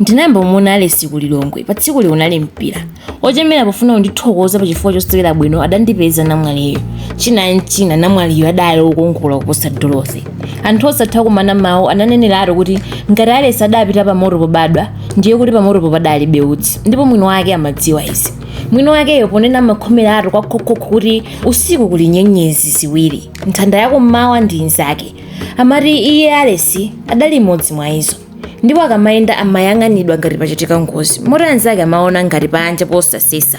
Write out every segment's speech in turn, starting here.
Ndinayamba kumuona Alesi ku Lilongwe. Pa tsikuli kunali mpira. Wochemera pofuna kundithokoza pa chifukwa chosewera bwino adandipeza namwaliyo. China n'china namwaliyo adali wokongola kuposa Dorothy. Anthu osatha kumana mawu ananeneratu kuti ngati Alesi adapita pamoto pobadwa, ndiye kuti pamotopo padalibe utsi. Ndipo mwini wake amadziwa izi. Mwini wakeyo ponena amakhomeratu kwakhokho kuti usiku kuli nyenyezi ziwiri, nthanda yakummawa ndi inzake. Amati iye Alesi adali imodzi mwa izo. ndipo akamayenda amayang'anidwa ngati pachitika ngozi moti anzake amaona ngati panja posasesa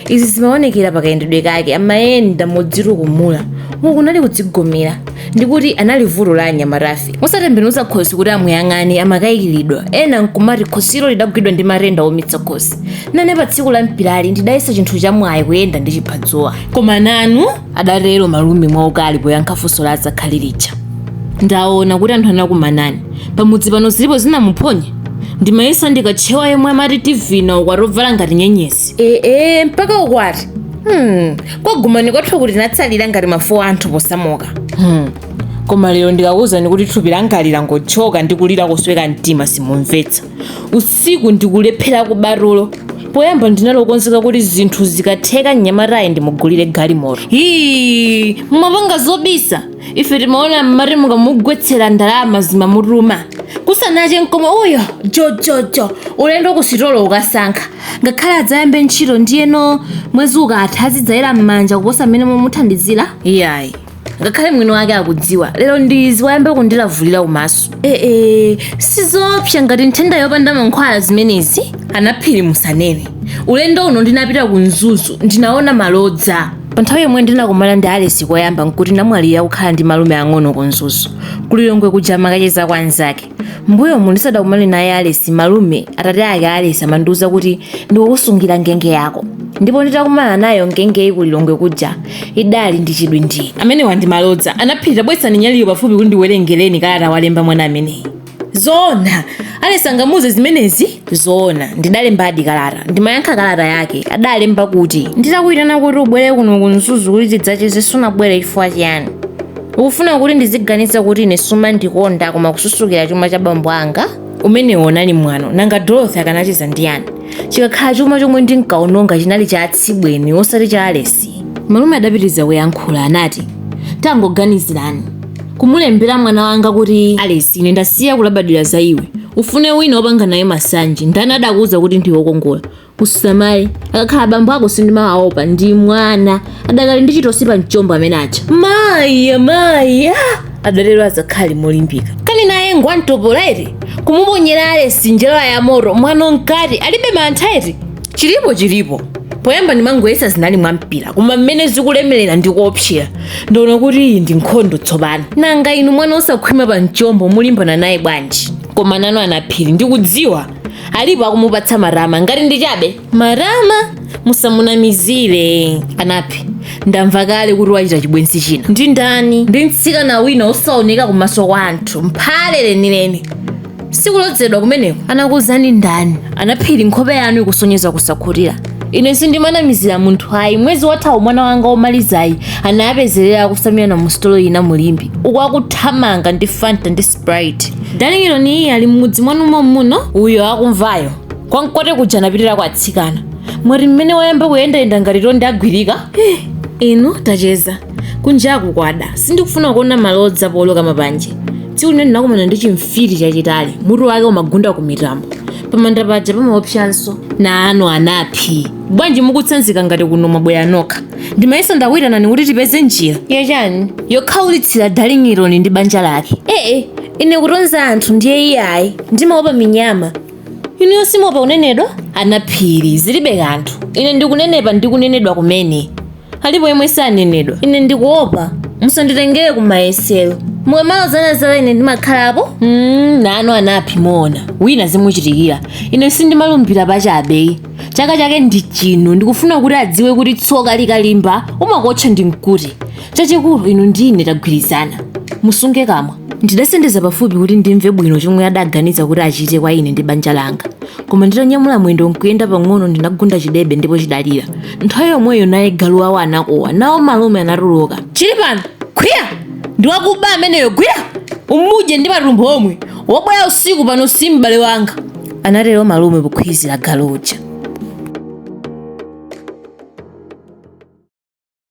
izi zimaonekera pakayendedwe kake amayenda modzitukumula uku kunali kudzigomera ndikuti anali vuto la anyamatafe osatembenuza khosi kuti amuyang'ane amakayikiridwa ena nkumati khosilo lidagwidwa ndi matenda oumitsa khosi nane pa tsiku la mpirali ndidayesa chinthu chamwayi kuyenda ndi chiphadzuwa koma nanu adatero malume mwaukali poyankha funso la adzakhali lija ndaona kuti anthu anakumanani pamudzi pano zilipo zinamuphonya ndimayesa ndikatchewa yemwe amati tivina ukwati owala ngati nyenyezi ee mpaka ukwati hmm. kwagumani kwathu kuti tinatsalira ngati mafuwa anthu posamuka hmm. koma lero ndikakuwuzani kuti thupi langali langotchoka ndi kulira kosweka mtima simumvetsa usiku ndikulephera kuba tulo poyamba ndinali wokonzeka kuti zinthu zikatheka mnyamatayu ndimugulire galimoto hii mumapanga zobisa ife timaona mmati mukamugwetsera ndalama zimamutuma kusanache mkome uyo jojojo ulendo kusitolo kukasankha ngakhale adzayambe ntchito ndiyeno mwezi ukatha azidzayera m'manja kuposa mmene mumuthandizira iyayi ngakhale mwini wake akudziwa lero ndizi wayamba kundilavulira kumaso ee sizoopsa ngati nthenda yopanda mankhwala zimenezi anaphiri musanene ulendo uno ndinapita ku mzuzu ndinaona malodza pa nthawi yomwe ndinakumana ndi alesi koyamba nkuti namwaliyo akukhala ndi malume ang'ono ku mzuzu kulilongwe kuja amakacheza kwa anzake mbuyomu ndisadakumane naye alesi malume atate ake alesi amandiuza kuti ndikukusungira ngenge yako ndipo nditakumana nayo ngengeyi kulilongwe kuja idali ndi chidwi ndi ine. Amenewa ndi malodza. Anaphiri tabweretsani nyaliyo pafupi kuti ndiwerengereni kalata walemba mwana ameneyi. Zoona! Alesi angamuuze zimenezi? Zoona, ndidalembadi kalata. Ndimayankha kalata yake. Adalemba kuti. Nditakuitana kuti ubwere kuno ku Mzuzu kuti tidzacheze sunabwere chifukwa chiyani? Ukufuna kuti ndiziganiza kuti ine sumandikonda koma kususukira chuma cha bambo anga? Umenewo unali mwano. Nanga Dorothy akanacheza ndi yani? chikakhala chuma chomwe ndinkaononga chinali cha atsibweni osati cha alesi malume adapitiriza kuyankhula anati tangoganizirani kumulembera mwana wanga kuti alesi ine ndasiya kulabadira za iwe ufune wina wopanga naye masanje ndani adakuwuza kuti ndiwe wokongola usamale akakhala bambo ako sindimawaopa ndi mwana adakali ndi chitosi pa mchombo amene aja maya maya adatero azakhali molimbika kani naye ngwantopola eti kumuponyera alesi njala ya moto mwano mkati alibe mantha eti chilipo chilipo poyamba ndimangoyesa zinali mwa mpira koma mmene zikulemerera ndi kuopsera ndiona kuti iyi ndi nkhondo tsopano nanga inu mwana osakhwima pa mchombo mulimbana naye bwanji koma nanu anaphiri ndikudziwa alipo akumupatsa matama ngati ndi chabe matama musamunamizire anaphi ndamva kale kuti wachita chibwenzi china ndi ndani ndi mtsikana wina osaoneka kumaso kwa anthu mphale lenileni sikulodzedwa kumeneko anakuuzani ndani anaphiri nkhope yanu ikusonyeza kusakhutira ine sindimanamizira munthu ayi mwezi wathawu mwana wanga womalizayi anawapezerera akutsamirana musitolo ina mu limbe uku akuthamanga ndi fanta ndi sprite dalingironi iye ali m'mudzi mwanu mommuno uyo akumvayo kwa mkote kuja anapitira kwa atsikana mwati mmene wayamba kuyendayenda ngati tonde agwirika Eh, inu tacheza kunjaku kwada sindikufuna kuona malodza pooloka mapanje tsiku lina ndinakumana ndi chimfiti chachitali mutu wake umagunda ku mitambo pamanda paja pamaopsanso nanu anaphi bwanji mukutsanzika ngati kuno mwabwera nokha ndimayesa ndakuitanani kuti tipeze njira yachani yokhaulitsira dalingironi ndi banja lake ee ine kutonza anthu ndiye iyayi ndimaopa minyama inu yo simuopa kunenedwa anaphiri zilibe kanthu ine ndikunenepa ndi kunenedwa kumene alipo yemwe sanenedwa ine ndikuopa musanditengere ku mayesero mukamalozana zala ine ndimakhalapo mm, nanu anaphi muona wina zimuchitikira ine sindimalumbira pachabeyi chaka chake ndi chino ndikufuna kuti adziwe kuti tsoka likalimba umakuotcha ndi mkute chachikulu inu ndi ine tagwirizana musunge kamwa ndidasendeza pafupi kuti ndimve bwino chomwe adaganiza kuti achite kwa ine ndi banja langa koma nditanyamula mwendo nkuyenda pang'ono ndinagunda chidebe ndipo chidalira nthawi yomweyo naye galu wawo anakuwa nawo malume anatuluka chili pano khwiya ndiwakuba ameneyo gwira umudye ndi matumbo omwe wobwera usiku pano si m'bale wanga anatero malume pokhwizira galu uja